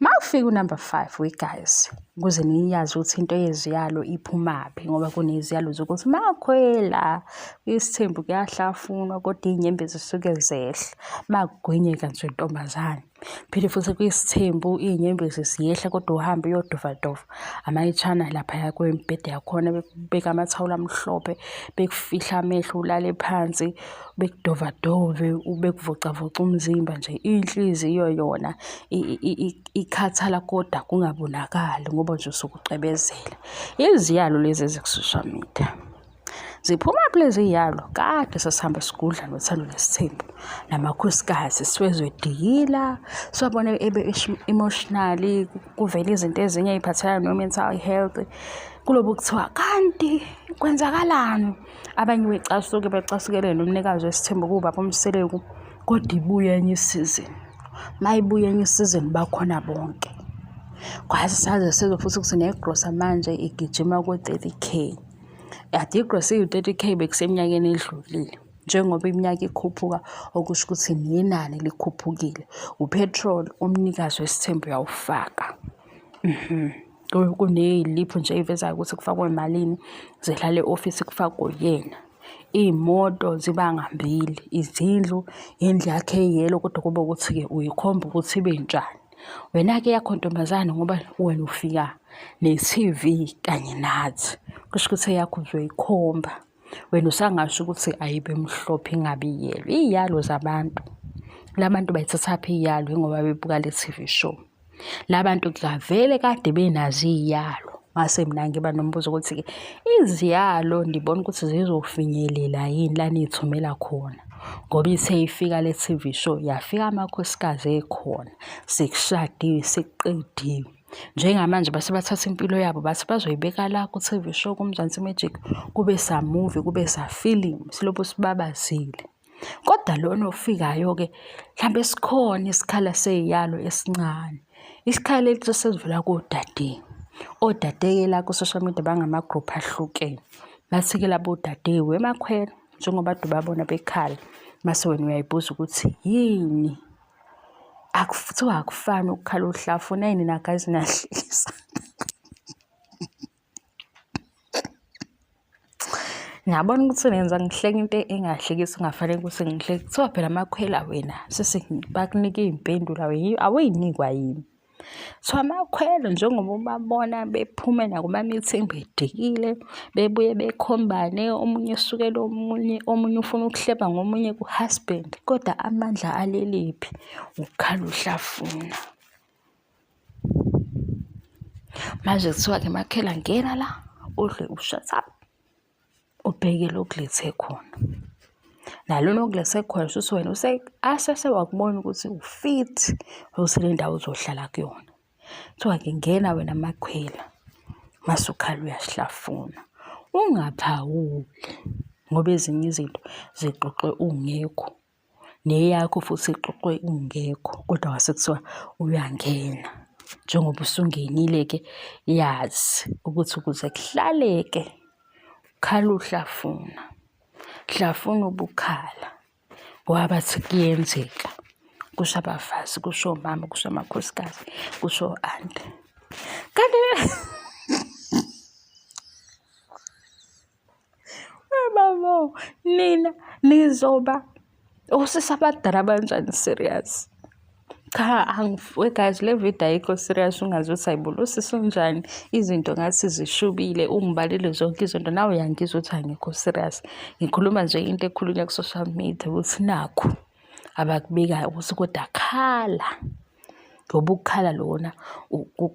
Makufika unumber 5 we guys ukuze niyazi ukuthi into yeziyalo iphumaphi ngoba kuneziyalo zokuthi makhwela isithembu kuyahlafunwa kodwa iy'nyembe zisuke zehla makugwinyeka nje ntombazane phinde futhi kuyisithembu iy'nyembe ziyehla kodwa uhambe uyodovadova amayitshana laphaya kwembhede yakhona bekubeka amathawula amhlophe bekufihla amehlo ulale phansi bekudovadove bekuvocavoca umzimba nje inhliziyo yona ikhathala kodwa kungabonakali ngoba nje usuke ucebezela iziyalo lezi eziku-social media ziphuma phi lezi yalo kade sasihamba sigudla nothando nesithembu namakhosikazi siwezwe diyila siwabona ebe emotionally kuvela izinto ezinye ey'phathelana no-mental health kulobo kuthiwa kanti kwenzakalani abanye becasuke becasukele nomnikazi wesithembu kuwubaba umseleku kodwa ibuye enye isizini uma ibuye enye isizini bakhona bonke kwazi saze sizwe futhi ukuthi negrosa manje igijima ku-thirty k ade igrosa iwu-thirty k bekuseminyakeni edlulile njengoba iminyaka ikhuphuka okusho ukuthi nenani likhuphukile uphethroli umnikazi wesithembu uyawufaka mhm. kuneyiliphu nje eyivezayo ukuthi kufakwe malini zidlala e-ofisi kufakwe yena iy'moto ziba ngambili izindlu indlu yakhe eyelo kodwa kube ukuthi-ke uyikhomba ukuthi ibe njani wena-ke yakho ntombazane ngoba wena ufika ne-T_V kanye nathi kusho ukuthi eyakho uzoyikhomba. wena usangasho ukuthi ayibe mhlophe ingabi yelo iyalo zabantu labantu bayithathaphi iyalo ingoba bebuka le TV show labantu kuvele kade benazi iyalo ngase mina ngiba nombuzo ukuthi ke iziyalo ndibona ukuthi zizofinyelela yini la niyithumela khona ngoba ithe ifika le TV show yafika amakhosikazi ekhona sekushadiwe sekuqediwe njengamanje base bathatha impilo yabo base bazoyibeka la ku-TV show kuMzansi Magic kube sa movie kube sa film silokhu sibabazile kodwa lona ofikayo ke mhlawumbe sikhona isikhala seyiyalo esincane isikhala elithi sesivela kodade odadeke la ku-social media bangama-group ahlukene bathi-ke labo odade wemakhwela njengoba dubabona bekhala mase wena uyayibuza ukuthi yini akuthiwa akufani ukukhala uhlafu nayi nina guys niyahlekisa ngiyabona ukuthi nenza ngihleka into engahlekisi kungafanele ukuthi ngihleke kuthiwa phela amakhwela wena sisi bakunike iy'mpendulo awuyinikwa yini So amakhwelo njengoba ubabona bephume nakuma-meeting bedikile, bebuye bekhombane omunye esukela omunye, omunye ufuna ukuhleba ngomunye ku-husband kodwa amandla aleliphi ukukhala uhlafuna. Manje kuthiwa-ke makhela ngena la udle u-shut up. ubheke lo okulethe khona nalo nokulethe khona shuthi wena use asese wakubona ukuthi ufit ukuthi le ndawo uzohlala kuyona kuthiwa ke ngena wena makhwela masukhala uyasihlafuna ungaphawuli ngoba ezinye izinto zixoxwe ungekho neyakho futhi ixoxwe ungekho kodwa kwase kuthiwa uyangena njengoba usungenile-ke yazi ukuthi ukuze kuhlaleke ukhala uhlafuna hlafuna ubukhala ngoba bathi kuyenzeka kusho abafazi kusho omama kusho amakhosikazi kusho ante kanti Babo, nina nizoba osisi abadala abanjani serious? Cha angifuwe guys le video ayikho serious ungazi ukuthi ayibona usisi unjani izinto ngathi zishubile ungibalile zonke izinto nawe uyangizwa ukuthi angikho serious ngikhuluma nje into ekhulunywa ku-social media ukuthi nakho abakubekayo ukuthi kodwa khala ngoba ukukhala lona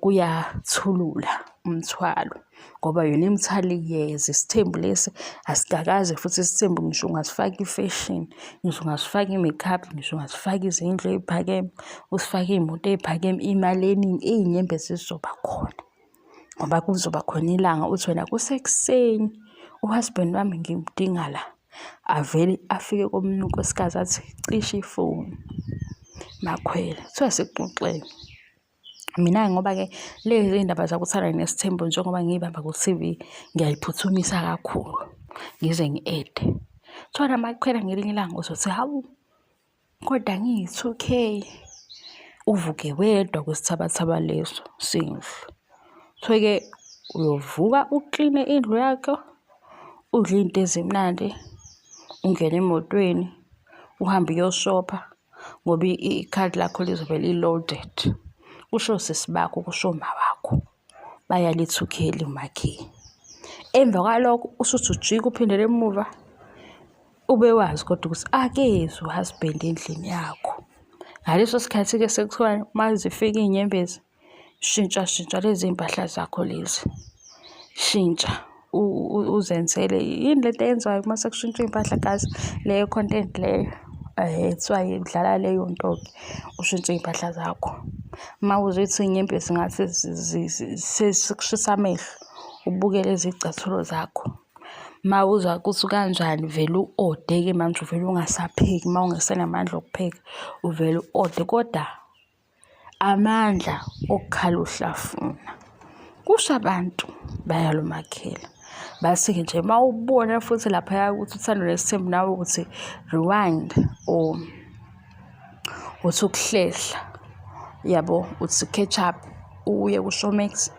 kuyathulula umthwalo ngoba yona imithwalo iyeza isithembu lesi asikakaze futhi isithembu ngisho ungasifaka ifeshini ngisho ungasifaka i-makeup ngisho ungasifaka izindlu ey'phakeme usifake iy'moto ey'phakeme imali eningi iy'nyembezi zizoba khona. ngoba kuzoba khona ilanga uthi wena kusekuseni uhusband wami ngimdinga la avele afike komunye unkosikazi athi cishe ifoni makhwela kuthiwa sekuxoxeni mina ngoba-ke lezi iy'ndaba zakuthanda nesithembu njengoba ngiyibamba ku-tv ngiyayiphuthumisa kakhulu ngize ngi-ede kuthiwa namakhwela ngelinye ilanga uzothi hawu Kodwa ngiyi-two K uvuke wedwa kwisithabathaba leso sendlu. Uthole-ke uyovuka ukline indlu yakho, udle izinto ezimnandi, ungene emotweni, uhambe uyoshopha ngoba ikhadi lakho lizobe li-loaded. Kusho sisi bakho, kusho umawakho. bayalithukela umakhi emva kwalokho usuthi ujika uphindele emuva ube wazi kodwa ukuthi akezwe uhusband endlini yakho ngaleso sikhathi-ke sekuthiwa uma zifika iy'nyembezi shintsha shintsha lezi mpahla zakho lezi shintsha uzenzele yini le nto eyenziwayo uma sekushintshwa iy'mpahla gazi leyo content leyo kuthiwa dlala leyo nto-ke ushintshe iy'mpahla zakho uma uzothi inyembezi ngathi sekushisa amehlo ubuke lezi y'cathulo zakho uma uzwa ukuthi kanjani vele u-ode-ke manje uvele ungasapheki uma ungasenamandla okupheka uvele u-ode kodwa amandla okukhala uhlafuna kusho abantu bayalumakhela basuke nje uma ubona futhi laphaya ukuthi uthando lesithembu nawe ukuthi rewind or uthi ukuhlehla yabo uthi catch up uye kuShowmax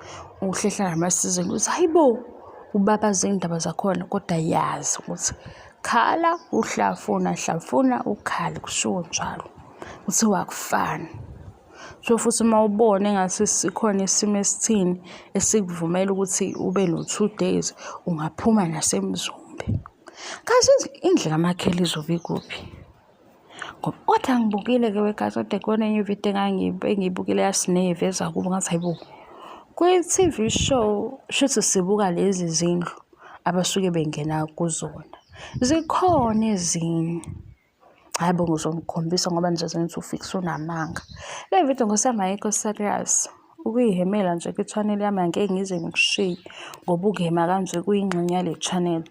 uhlehla namasizini uthi hayi bo ubabaze iy'ndaba zakhona kodwa yazi ukuthi khala uhlafuna hlafuna ukhale kushiwo njalo kuthiwa akufani so futhi uma ubona engathi sikhona isimo esithini esikuvumela ukuthi ube no-two days ungaphuma nasemzumbe kazi indlu kamakhela izobe ikuphi ngoba kodwa angibukile-ke wekazi kodwa kuyona enye ividiyo engiyibukile yasineve eza kubo ngathi hayi bo kwi-tv show shuthi sibuka lezi zindlu abasuke bengena kuzona zikhona ezinye hayi bo ngizomkhombisa ngoba nje zenza ufikise unamanga le video ngosema yikho serious ukuyihemela nje kwi-channel yami angeke ngize ngikushiye ngoba ukuhema kanje kuyingxenye yale channel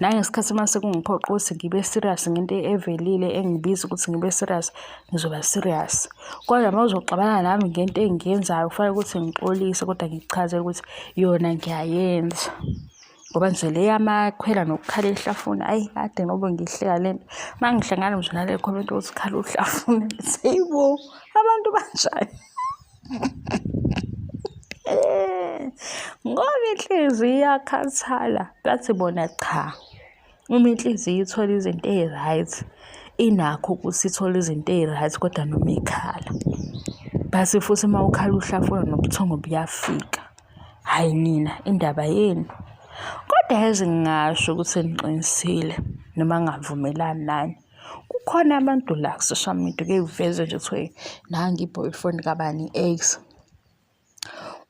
nangesikhathi uma sekungiphoqa ukuthi ngibe serious ngento evelile engibiza ukuthi ngibe serious ngizoba serious kodwa uma uzoxabana nami ngento engiyenzayo kufanele ukuthi ngixolise kodwa ngikuchazele ukuthi yona ngiyayenza ngoba nje le yamakhwela nokukhala ehlafuna ayi kade ngoba ngihleka le nto uma ngihlangana nje nale comment ukuthi khala uhlafuna seyibo abantu banjani ngoba inhliziyo iyakhathala bathi bona cha Uma inhliziyo ithola izinto eyi-right, inakho ukuthi ithole izinto eyi-right kodwa noma ikhala. Base futhi uma ukhala uhlafuna nobuthongo buyafika. Hhayi nina, indaba yenu. Kodwa yazi ngingasho ukuthi niqinisile noma ngingavumelani nani. Kukhona abantu la ku-social media kuye kuvezwe nje kuthiwe nangu i-boyfriend kabani i-ex.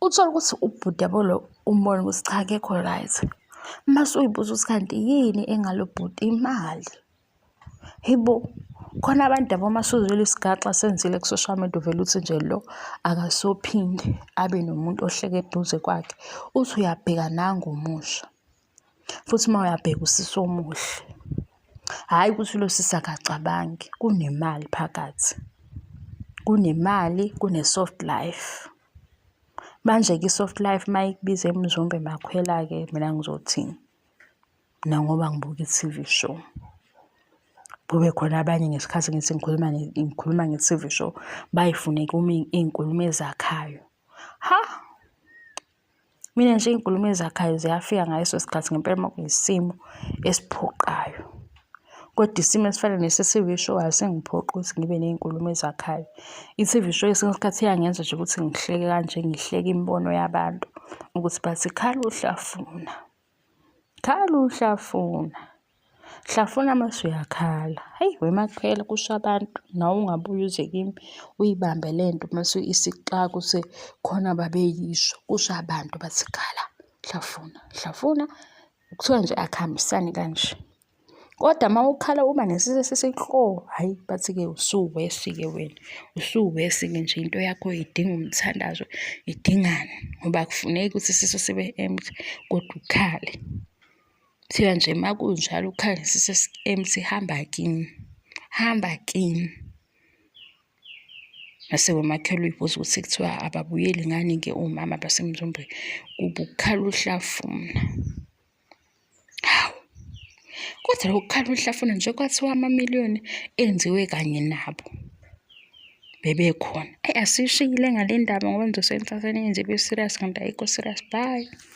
uthole ukuthi ubhuti yabo lo umbone ukuthi cha akekho right mase uyibuza ukuthi kanti yini engalo bhuti imali hebo khona abantu yabo uma suzwile isigaxa senzile ku-social media uvele uthi nje lo akasophinde abe nomuntu ohleke eduze kwakhe uthi uyabheka nangomusha futhi uma uyabheka usisi omuhle hhayi ukuthi lo sisi akacabangi kunemali phakathi kunemali kune-soft life manje-ke i-soft life uma ikubiza emzombe makhwela-ke mina ngizothini mina ngoba ngibuka i-tv show kube khona abanye ngesikhathi ngithi ngikhuluma ngikhuluma nge-T_V show bayifune kimi iy'nkulumo ezakhayo ha. Mina nje iy'nkulumo ezakhayo ziyafika ngaleso sikhathi ngempela uma kuyisimo esiphoqayo. Kodwa isimo esifana nese-T_V show asingiphoqi ukuthi ngibe ney'nkulumo ezakhayo. I-T_V show kwesinye isikhathi iyangenza nje ukuthi ngihleke kanje, ngihleke imibono yabantu ukuthi bathi khala uhlafuna. Khala uhlafuna. Hlafuna mase uyakhala. Hhayi wemakhwela kusho abantu nawe ungabuye uze kimi uyibambe le nto mase isixaka usekhona ababeyisho. Kusho abantu bathi khala hlafuna. Hlafuna kuthiwa nje akuhambisani kanje. Kodwa uma ukhala uba nesisi esisikho, hhayi bathi-ke usuwesi-ke wena, usuwesi-ke nje into yakho idinga umthandazo, idingani ngoba akufuneki ukuthi isisu sibe empty kodwa ukhale. Kuthiwa nje uma kunjalo ukhale nesisu esi-empty hamba kini, hamba kini. Mase komakhelwa uy'buza ukuthi kuthiwa ababuyeli ngani-ke omama basemzombe, kube ukukhala uhlafuna. Hawu, kodwa lokukhala uhlafuna nje kwathiwa amamiliyoni enziwe kanye nabo bebekhona. Eyi asishiyile ngale ndaba ngoba ngizosebenzisa seninzi kwi-serious kanti ayikho serious. Bye.